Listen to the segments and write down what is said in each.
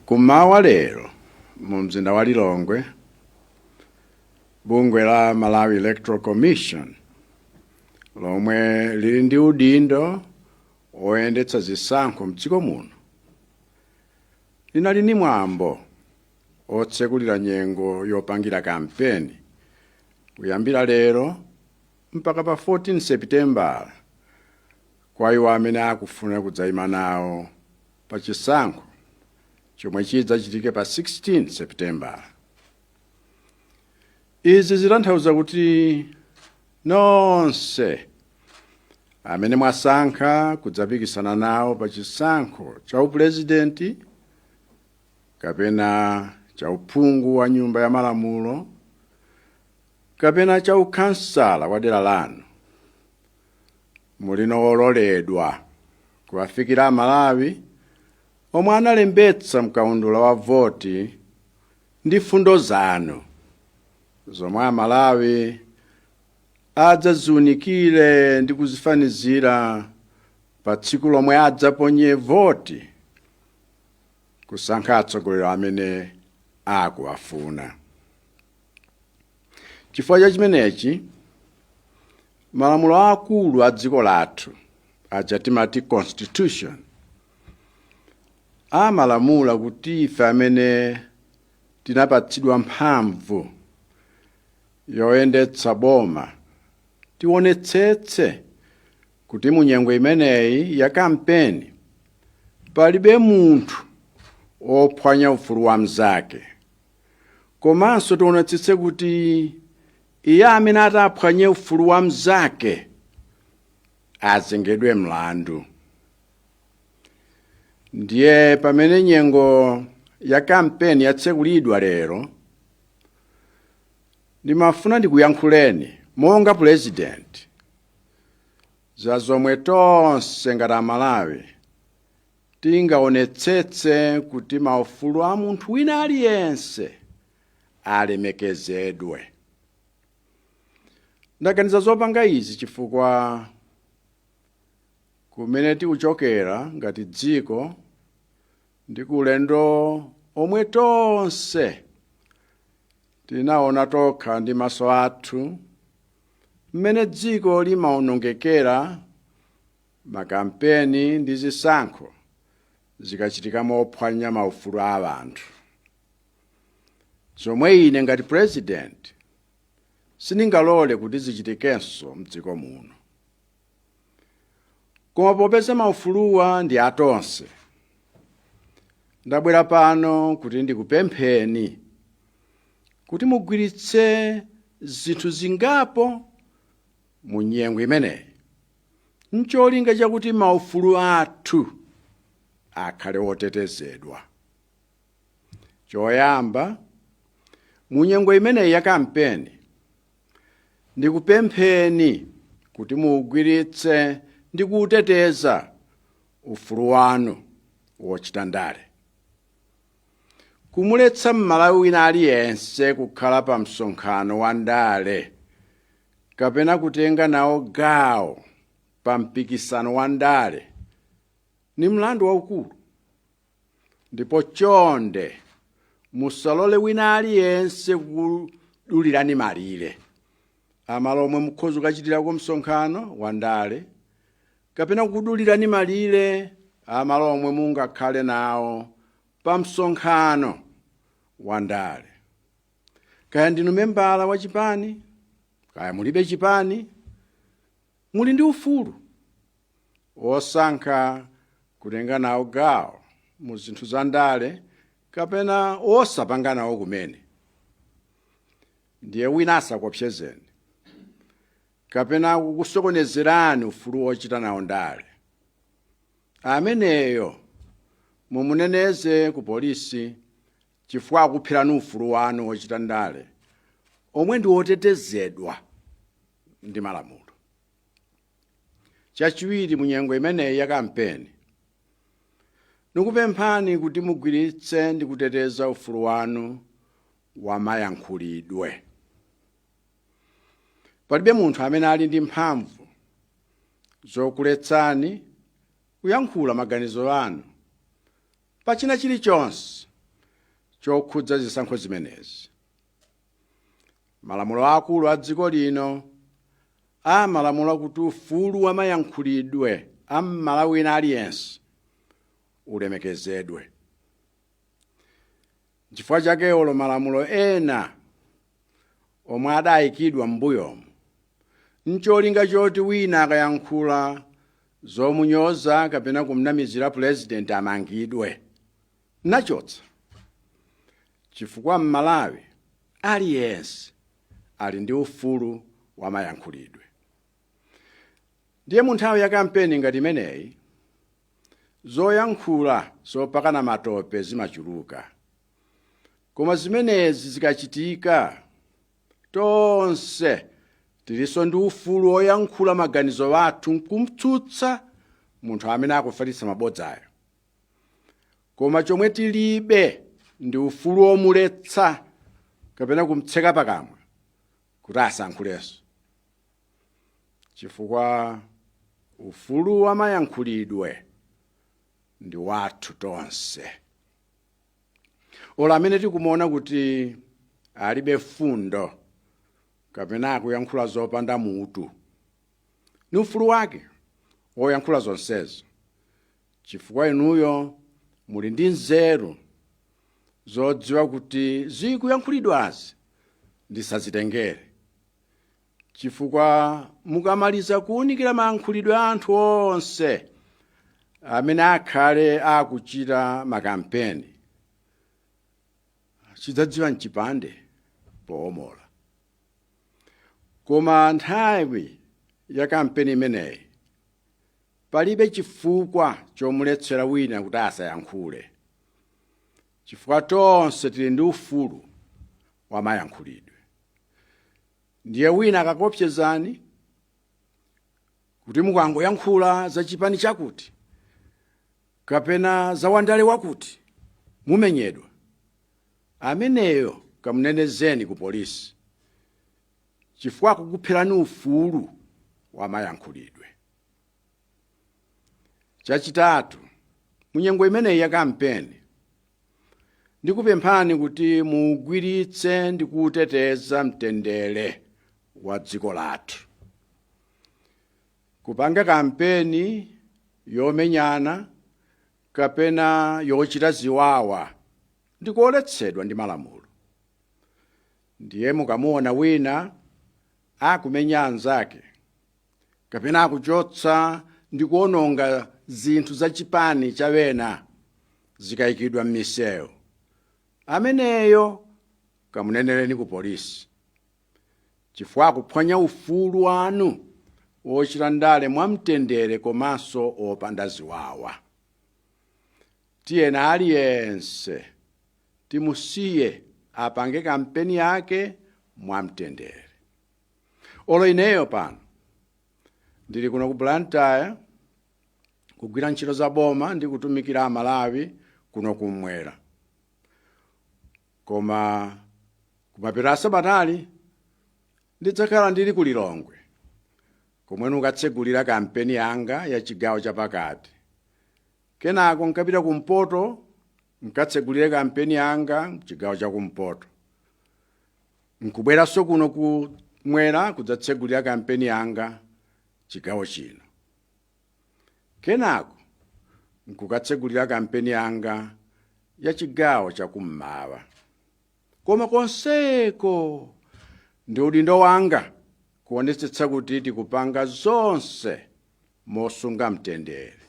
Kumawa lero mu mzinda wa Lilongwe, bungwe la Malawi Electoral Commission lomwe lili ndi udindo woyendetsa zisankho mdziko muno linali ni mwambo otsekulira nyengo yopangira kampeni kuyambira lero mpaka pa 14 sepitembala kwa iwo amene akufuna kudzaima nawo pa chisankho chomwe chidzachitike pa 16 sepitembala izi zitanthauza kuti nonse amene mwasankha kudzapikisana nawo pa chisankho cha upulezidenti kapena cha uphungu wa nyumba ya malamulo kapena cha ukhansala wa dera lanu muli ololedwa kuwafikira amalawi omwe analembetsa mkaundula wa voti ndi fundo zanu zomwe amalawi adzaziunikire ndi kuzifanizira pa tsiku lomwe adzaponye voti kusankha atsogoleri amene akuwafuna chifukwa cha chimenechi malamulo aakulu a dziko lathu aja timati constitution amalamula kuti ife amene tinapatsidwa mphamvu yoyendetsa boma tionetsetse kuti mu nyengo imeneyi ya kampeni palibe munthu ophwanya ufulu wa mnzake komanso tionetsetse kuti iye amene ataphwanye ufulu wa mnzake azengedwe mlandu ndiye pamene nyengo ya kampeni yatsekulidwa lero ndimafuna ndikuyankhuleni monga pulezidenti za zomwe tonse ngati amalawi Tingaonetsetse kuti maufulu a munthu wina aliyense alemekezedwe. Ndaganiza zopanga izi chifukwa kumene tikuchokera ngati dziko ndi ku ulendo omwe tonse tinaona tokha ndi maso athu mmene dziko limaonongekera Makampeni ndi zisankho zikachitika mophwanya maufulu a anthu. Zomwe ine ngati president sindingalole kuti zichitikenso mdziko muno. Koma popeza maufuluwa ndi atonse, ndabwera pano kuti ndikupempheni kuti mugwiritse zinthu zingapo mu nyengo imeneyi. n'cholinga chakuti maufulu athu akhale otetezedwa. Choyamba, mu nyengo imeneyi ya kampeni, ndikupempheni kuti muugwiritse ndi kuuteteza ufulu wanu wochita ndale. Kumuletsa Mmalawi wina aliyense kukhala pa msonkhano wa ndale kapena kutenga nawo gawo pa mpikisano wa ndale ni mlandu waukulu ndipo chonde musalole wina aliyense kudulirani malire amalo omwe mukhoza kukachitirako msonkhano wa ndale kapena kudulirani malire amalo omwe mungakhale nawo pa msonkhano wa ndale kaya ndinu membala wa chipani kaya mulibe chipani muli ndi ufulu wosankha kutenga nawo gawo mu zinthu za ndale kapena wosapanga nawo kumene ndiye wina asakuopsezeni kapena kukusokonezerani ufulu wochita nawo ndale ameneyo mumuneneze ku polisi chifukwa akuphirani ufulu wanu wochita ndale omwe ndi wotetezedwa ndi malamulo. Chachiwiri, mu nyengo imeneyi ya kampeni, nikupemphani kuti mugwiritse ndi kuteteza ufulu wanu wa mayankhulidwe. Palibe munthu amene ali ndi mphamvu zokuletsani kuyankhula maganizo anu pa china chilichonse chokhudza zisankho zimenezi. Malamulo aakulu a dziko lino amalamula kuti ufulu wa mayankhulidwe a Mmalawi wina aliyense ulemekezedwe. Nchifukwa chake olo malamulo ena omwe adayikidwa m'mbuyomu ncholinga choti wina akayankhula zomunyoza kapena kumnamizira pulezidenti amangidwe, nachotsa chifukwa m'Malawi aliyense ali ndi ufulu wa mayankhulidwe. Ndiye munthawi ya kampeni ngati imeneyi, zoyankhula zopakana matope zimachuluka. Koma zimenezi zikachitika, tonse tilinso ndi ufulu woyankhula maganizo athu n'kum'tsutsa munthu amene akufalitsa mabodzayo. Koma chomwe tilibe ndi ufulu womuletsa kapena kum'tseka pakamwa kuti asayankhulenso. chifukwa ufulu wa mayankhulidwe ndi wathu tonse olo amene tikumuona kuti alibe mfundo kapena akuyankhula zopanda mutu ni ufulu wake woyankhula zonsezo chifukwa inuyo muli ndi nzeru zodziwa kuti zikuyankhulidwazi ndisazitengere chifukwa mukamaliza kuwunikira mayankhulidwe a anthu onse amene akhale akuchita makampeni chidzadziwa n'chipande poomola koma nthawi ya kampeni imeneyi palibe chifukwa chomuletsera wina kuti asayankhule chifukwa tonse tili ndi ufulu wamayankhulidwe ndiye wina akakuwopsezani kuti mukangoyankhula za chipani chakuti kapena za wandale wakuti mumenyedwa ameneyo kamunenezeni ku polisi chifukwa akukupherani ufulu wamayankhulidwe chachitatu munyengo imeneyi ya kampeni ndikupemphani kuti muugwiritse ndi kuuteteza mtendere wa dziko lathu kupanga kampeni yomenyana kapena yochita ziwawa ndi koletsedwa ndi malamulo ndiye mukamuona wina akumenya anzake kapena akuchotsa ndi kuononga zinthu za chipani cha wena zikayikidwa m'misewu ameneyo kamunenereni ku polisi chifukwa akuphwanya ufulu wanu wochita ndale mwamtendere komanso opanda ziwawa tiyeni aliyense timusiye apange kampeni yake mwamtendere olo ineyo pano ndili kuno ku blantyre kugwira ntchito za boma ndi kutumikira amalawi kuno kumwera koma kumapeto a sabatali ndidzakhala ndili ku lilongwe komwe ndikatsegulira kampeni yanga ya chigawo chapakati kenako nkapita kumpoto Nkatsegulire kampeni yanga chigawo cha kumpoto. Nkubweranso kuno kumwera kudzatsegulira kampeni yanga chigawo chino. Kenako nkukatsegulira kampeni yanga ya chigawo cha kummawa. Koma konseko ndi udindo wanga kuonetsetsa kuti tikupanga zonse mosunga mtendere.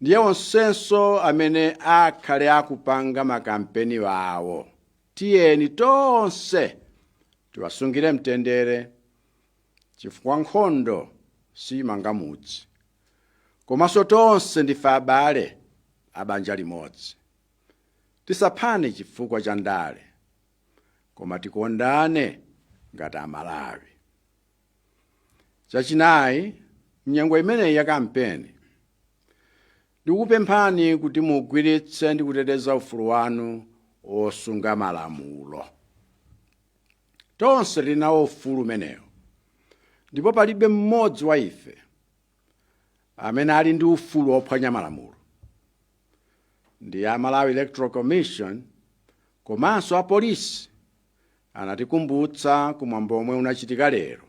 ndiye onsenso amene akhale akupanga makampeni awo tiyeni tonse tiwasungire mtendere chifukwa nkhondo simanga mudzi komanso tonse ndife abale abanja limodzi tisaphane chifukwa cha ndale koma tikondane ngati amalawi Chachinayi, mnyengo imeneyi ya kampeni, ndikupemphani kuti mugwiritse ndi kuteteza ufulu wanu wosunga malamulo. Tonse tili nawo ufulu umenewu, ndipo palibe mmodzi wa ife amene ali ndi ufulu wophwanya malamulo. Ndi a Malawi Electoral Commission komanso apolisi anatikumbutsa ku mwambo omwe unachitika lero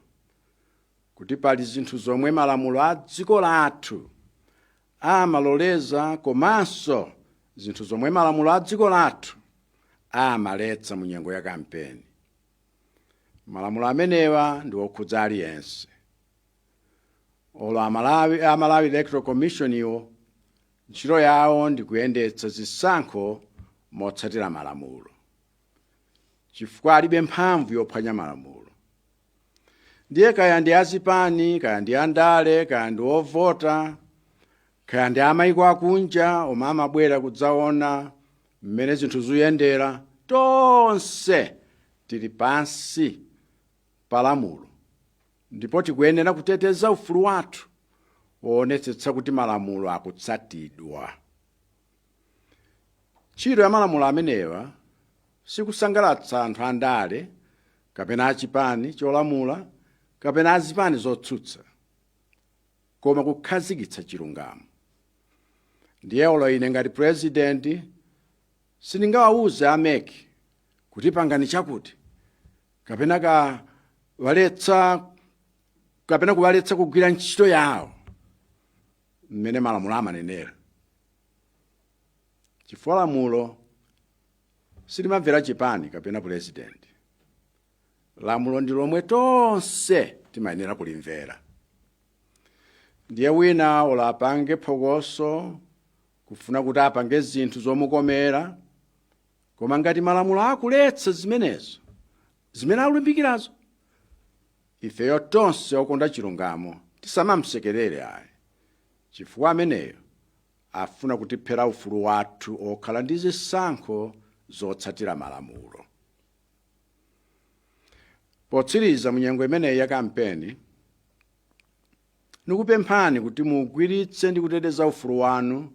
kuti pali zinthu zomwe malamulo a dziko lathu amaloleza komanso zinthu zomwe malamulo a dziko lathu amaletsa mu nyengo ya kampeni malamulo amenewa ndi okhudza aliyense olo a malawi electoral commission iwo ntchito yawo ndi kuyendetsa zisankho motsatira malamulo chifukwa alibe mphamvu yophwanya malamulo ndiye kaya ndi azipani kaya ndi andale kaya ndi ovota kaya ndi amayiko akunja omwe amabwera kudzaona mmene zinthu zikuyendera tonse tili pansi pa lamulo ndipo tikuyenera kuteteza ufulu wathu woonetsetsa kuti malamulo akutsatidwa Ntchito ya malamulo amenewa si kusangalatsa anthu andale kapena a chipani cholamula kapena a zipani zotsutsa, koma kukhazikitsa chilungamo. Ndiye olo ine ngati pulezidenti sindingawauze a mec kuti pangani chakuti kapena kuwaletsa kugwira ntchito yawo. mmene malamulo amanenera chifukwa lamulo silimamvera chipani kapena pulezidenti lamulo ndi lomwe tonse timayenera kulimvera ndiye wina olo apange phokoso kufuna kuti apange zinthu zomukomera koma ngati malamulo akuletsa zimenezo zimene akulimbikirazo Ifeyo tonse okonda chilungamo tisamamsekerere ayi, chifukwa ameneyo afuna kutiphera ufulu wathu okhala ndi zisankho zotsatira malamulo. Potsiriza, munyengo imeneyi ya kampeni, ndikupemphani kuti muugwiritse ndi kuteteza ufulu wanu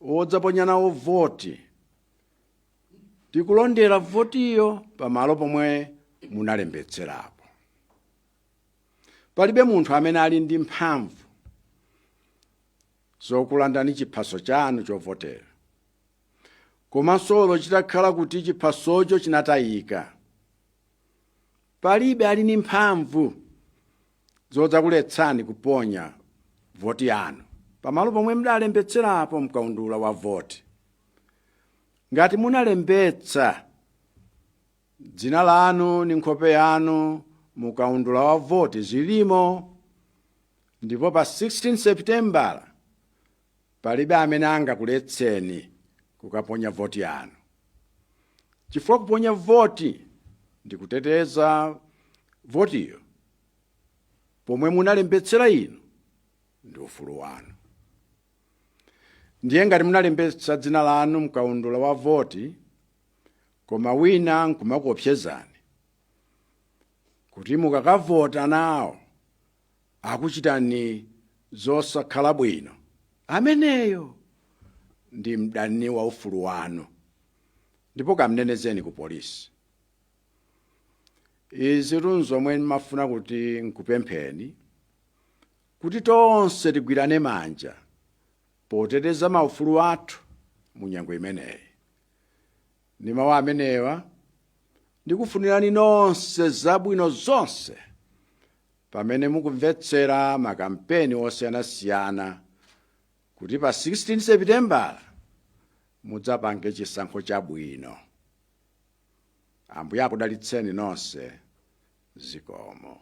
wodzaponya nawo voti, ndi kulondera votiyo pamalo pomwe munalembetserapo palibe munthu amene ali ndi mphamvu zokulandani chiphaso chanu chovotera komanso olo chitakhala kuti chiphasocho chinatayika palibe ali ndi mphamvu zodzakuletsani kuponya voti yanu pamalo pomwe mudalembetserapo mkaundula wa voti. Ngati munalembetsa dzina lanu ndi nkhope yanu mu kaundula wa voti zilimo ndipo pa 16 Sepitembala palibe amene angakuletseni kukaponya voti yanu chifukwa kuponya voti ndi kuteteza votiyo pomwe munalembetsera inu ndi ufulu wanu ndiye ngati munalembetsa dzina lanu mkaundula wa voti koma wina nkumakuopsezani kuti mukakavota nawo akuchitani zosakhala bwino ameneyo ndi mdani wa ufulu wanu ndipo kamnenezeni ku polisi izi ndi zomwe ndimafuna kuti nkupempheni kuti tonse tigwirane manja poteteza maufulu athu mu nyengo imeneyi ndi mawu amenewa ndikufunirani nonse zabwino zonse pamene mukumvetsera makampeni osiyanasiyana kuti pa 16 Sepitembala mudzapange chisankho chabwino. Ambuye akudalitseni nonse. Zikomo.